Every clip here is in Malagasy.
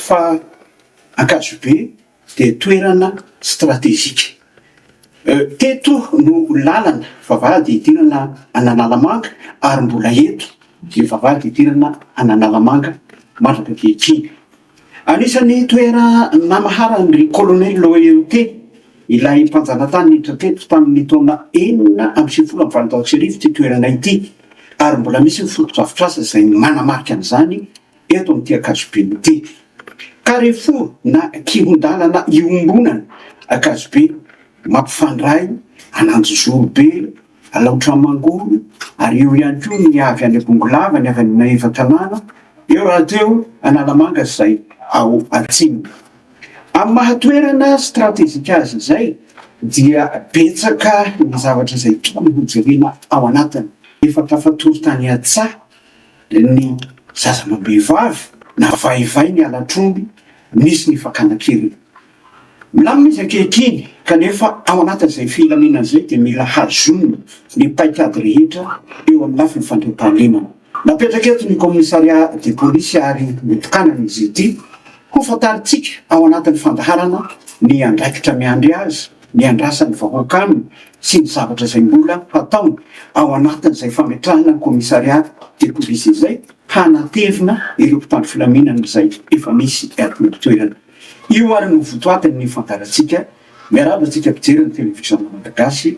Fa Ankazobe dia toerana stratejika. Teto no lalana vavahady hidirana an'Analamanga ary mbola eto ny vavahady hidirana an'Analamanga mandraka ankehitriny. Anisan'ny toerana maharan-dry Colonel Loyauté, ilay mpanjanatany niditra teto tamin'ny taona enina amby sivifolo amby valonjato sy arivo ity toerana ity ary mbola misy ny fotodrafitrasa izay manamarika an'izany Eto amin'ity ankazobe miteny Carrefour na kihon-dalana iombonana ankazobe mampifandray an'Anjozorobe, Alaotra Mangoro ary eo ihany koa ny avy any Bongolava, ny avy any Maevatanàna, eo rahateo Analamanga izay ao atsimo. Amin'ny maha toerana stratejika azy izay dia betsaka ny zavatra izay tokony hojerena ao anatiny. Efa tafatory tany an-tsaha ny zazamabehivavy na vaivay ny halatr'omby nisy ny fakana kely. Milamina izy ankehitriny kanefa ao anatin'izay filaminana izay dia mila hazonina ny paikady rehetra eo amin'ny lafiny fandriampahalemana. Napetraka eto ny Commissariat de Police ary notokanana izy ity ho fantarintsika ao anatin'ny fandaharana ny andraikitra miandry azy. Ny andrasan'ny vahoaka aminy sy ny zavatra izay mbola hataony ao anatin'izay fametrahana ny Commissariat de Police izay hanatevina ireo mpitandro filaminana izay efa misy eto an-toerana. Io ary no votoatin'ny fandaharantsika. Miaraba antsika mpijery ny Televiziona Malagasy.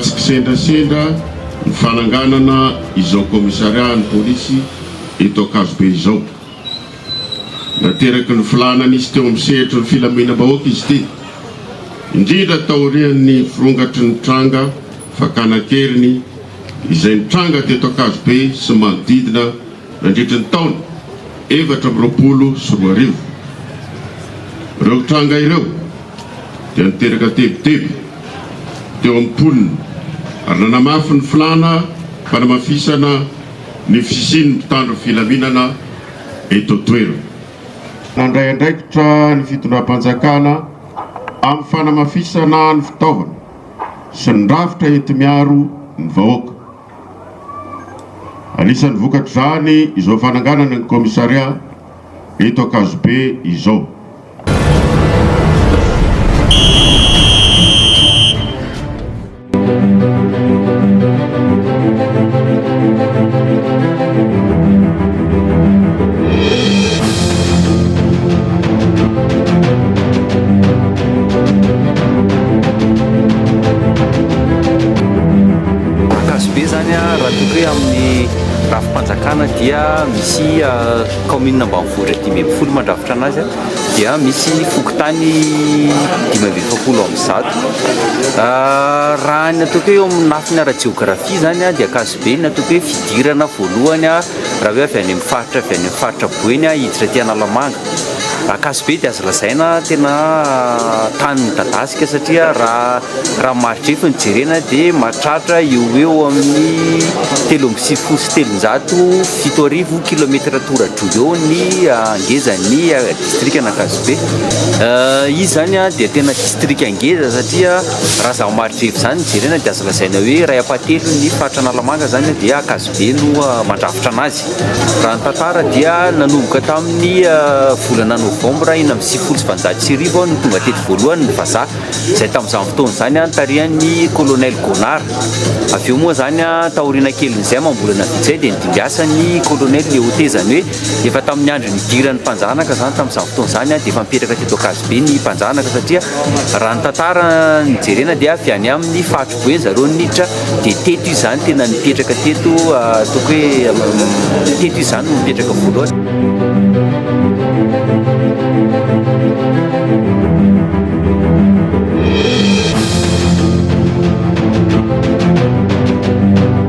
Tsy kisendrasendra ny fananganana izao kaomisariahan'ny polisy eto Ankazobe izao. Nateraky ny filàna nisy teo amin'ny sehatry ny filaminam-bahoaka izy ity, indrindra taorian'ny firongatry ny tranga fakàna an-keriny izay nitranga teto Ankazobe sy manodidina nandritry ny taona efatra amby roapolo sy roa arivo. Ireo tranga ireo dia niteraka tebiteby teo amin'ny mponina ary nanamafy ny filàna fanamafisana ny fisian'ny mpitandro filaminana eto an-toerana. Nandray andraikitra ny fitondram-panjakana amin'ny fanamafisana ny fitaovana. sy ny rafitra enti-miaro ny vahoaka. Anisan'ny vokatr'izany izao fananganana ny kaomisaria eto Ankazobe izao. Mankasy be zany a raha toa ka amin'ny rafi-panjakana dia misy kaominina ambanivohitra dimy ambin'ny folo mandrafitra anazy dia misy fokontany dimy amby efapolo amby zato raha ny atao hoe eo amin'ny lafiny ara-jeografia zany a dia Be ny natoky hoe fidirana voalohany raha hoe avy any amin'ny faritra avy any amin'ny faritra boeny hiditra aty Analamanga. Ankasibe dia azo lazaina tena tany midadasika satria raha raha maridrefy no jerena dia mahatratra eo ho eo amin'ny telo amby sivifolo sy telonjato, fito arivo kilomètre toradroy eo ny ngezan'ny distrikan'Ankasibe. Izy izany dia tena distrika ngeza satria Raha izaho marihirehiko izany jerena dia azo lazaina hoe iray ampahatelony ny faritra Analamanga izany dia ankazobe no mandrafitra anazy. Raha ny tantara dia nanomboka tamin'ny volana novambra enina amby sivifolo sy valonjato sy arivo no tonga teto voalohany ny vazaha izay tamin'izany fotoana izany nitarihan'ny Colonel Gonard. Avy eo moa izany taoriana kelin'izay amam-bolana vitsy izay dia nidimbiasan'ny Colonel Léo T izany hoe Efa tamin'ny andro nidiran'ny mpanjanaka izany tamin'izany fotoana izany dia efa mipetraka teto Ankazobe ny mpanjanaka satria raha ny tantara no jerena dia avy any amin'ny faritry Boeny zareo niditra dia teto izy izany tena nipetraka teto ataoko hoe teto izy izany no mipetraka voalohany.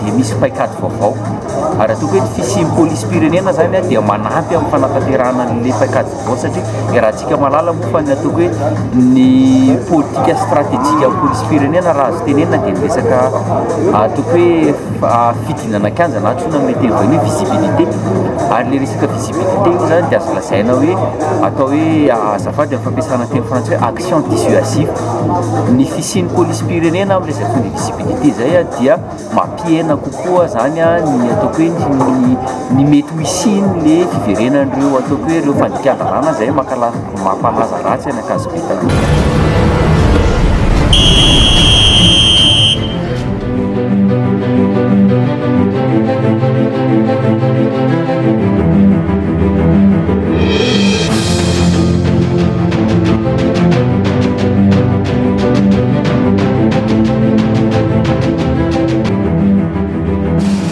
dia misy paikady vaovao ary ataoko hoe ny fisian'ny polisim-pirenena izany dia manampy amin'ny fanatanterahana an'ilay paikady vaovao satria iarahantsika mahalala moa fa ny ataoko hoe ny politika stratejika amin'ny polisim-pirenena raha azo tenenina dia ny resaka ataoko hoe fidinana an-kianja na antsoina amin'ny teny vahiny hoe visibilité ary ilay resaka visibilité io izany dia azo lazaina hoe atao hoe azafady amin'ny fampiasana ny teny frantsay hoe action dissuasive ny fisian'ny polisim-pirenena amin'ny resaka visibilité izay dia mampihena kokoa zany ny ataoko hoe ny ny mety ho hisian'ny fiverenan'ireo ataoko hoe ireo fandikan-dalàna izay mankalaza mampalaza ratsy an'i Ankazobe taloha.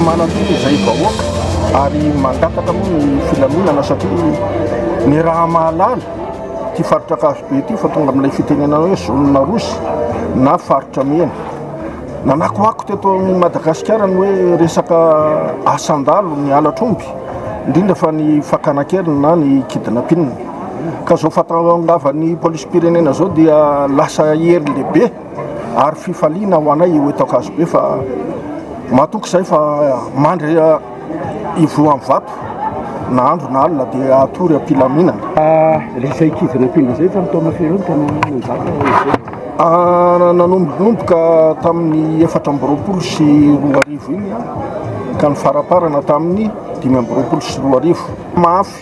Manantena izay vahoaka ary mangataka moa ny filaminana satria ny raha mahalala ity faritra Ankazobe ity fa tonga amin'ilay fitenenana hoe zone rouge na faritra mena. Nanakoako teto amin'i Madagasikara ny hoe resaka asan-dalo ny halatr'omby, indrindra fa ny fakana kely na ny kidnapping. Ka zao fahatongavan'ny polisim-pirenena zao dia lasa hery lehibe ary fifaliana ho anay eo eto Ankazobe fa matoky zay fa mandry ivohan'ny vato na andro na alina dia hatory am-pilaminana. Ilay izay kivy nampiana izay tamin'ny taona firy eo no tena nanjaka izay? Nanomboka tamin'ny efatra amby roapolo sy roa arivo iny ka ny faraparana tamin'ny dimy amby roapolo sy roa arivo. Mafy.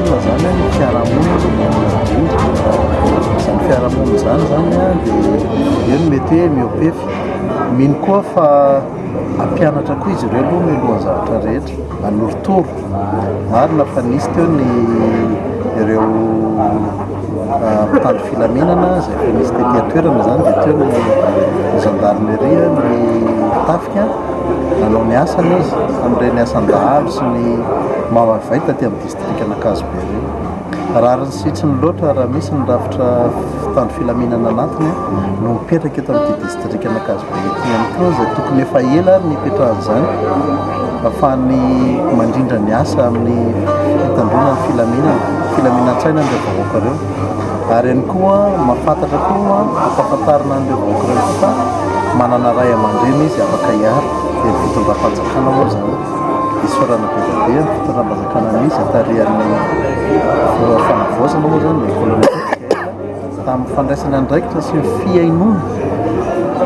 Olona zany a, ny fiarahamonina aloha dia olona madio, izany fiarahamonina izany zany a dia eo no mety hoe mihoa-pefy, mino koa fa hampianatra koa izy ireo aloha mialohan'ny zavatra rehetra, hanorotoro, marina fa nisy teo ny ireo mpitandro filaminana izay efa nisy tety an-toerana zany dia teo ny gendarmerie, ny tafika nanao ny asany izy tamin'ireny asan-dahalo sy ny maha-vaita aty amin'ny. distrikan'Ankazobe reny. Rariny sy itsiny loatra raha misy ny rafitra mpitandro filaminana anatiny no mipetraka eto amin'ity distrikan'Ankazobe ity ihany koa izay tokony efa ela ary nipetrahan'izany afany mandrindra ny asa amin'ny fitandroana ny filaminana, filaminan-tsaina an'ireo vahoaka ireo. Ary ihany koa mafantatra koa ampafantarina an'ireo vahoaka ireo koa fa manana ray aman-dreny izy afaka hiaro dia ny fitondram-panjakana moa izany. Diso farana be dia be ny fitondram-panjakana misy tarihan'ny Filoha Fanavaozana moa izany dia voalohany indrindra tamin'ny fandraisana andraikitra sy ny fihainoana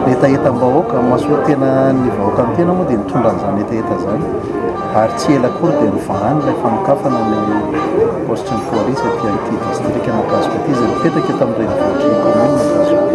hetahetam-bahoaka mahasoa tena ny vahoaka ny tena moa dia nitondra an'izany hetaheta izany ary tsy ela akory dia nivahana ilay fanokafana ny paositry ny polisy aty amin'ity distrika Ankazoko ity izay mipetraka eto amin'ny renivohitr'i ny kaominina Ankazoko.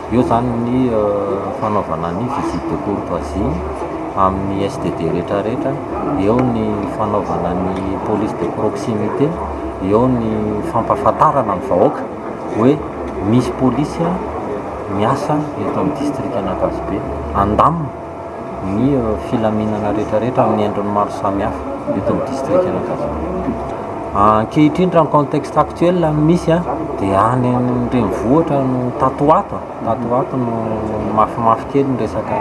Eo izany ny fanaovana ny visite de courtoisie amin'ny SDD rehetra rehetra, eo ny fanaovana ny police de proximité, eo ny fampahafantarana ny vahoaka hoe misy polisy miasa eto amin'ny distrikan'Ankazobe, andamina. ny filaminana rehetrarehetra amin'ny endriny maro samihafa eto amin'ny distrikan'Ankazambe. Ankehitriny raha ny contexte actuel no misy dia any amin'ny renivohitra no tato ho ato, tato ho ato no mafimafy kely ny resaka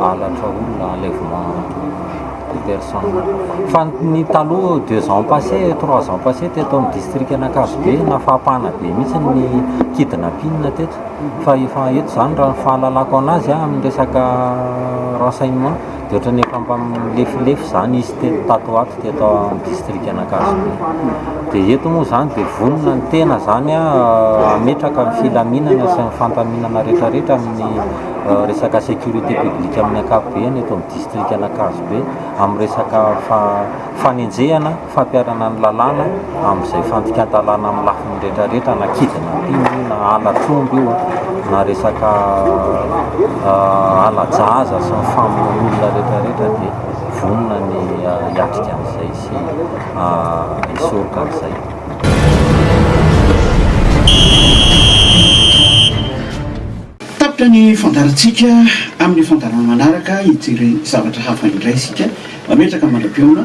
halatra olona, enlèvement de personnes. Fa ny taloha deux ans passé, trois ans passé teto amin'ny distrikan'Ankazobe na fampana be mihitsy ny kidnapping teto. fa efa eto izany raha ny fahalalako anazy a amin'ny resaka renseignement dia ohatran'ny efa mba milefilefy izany izy teto tato ho ato teto amin'ny distrikan'Ankasibe dia eto moa izany dia vonona ny tena izany a hametraka ny filaminana sy ny fandaminana rehetrarehetra amin'ny resaka sécurité publique amin'ny ankapobeny eto amin'ny distrikan'Ankasibe amin'ny resaka fanenjehana fampiharana ny lalàna amin'izay fandikan-dalàna amin'ny lafiny rehetrarehetra na kidnapping io na halatr'omby io na resaka halajahaza sy ny famonoana olona rehetrarehetra dia vonona ny hiatrika an'izay sy hisoroka an'izay. Tapitra ny fandaharantsika, amin'ny fandaharana manaraka hijery zavatra hafa indray isika, mametraka mandrapihaona.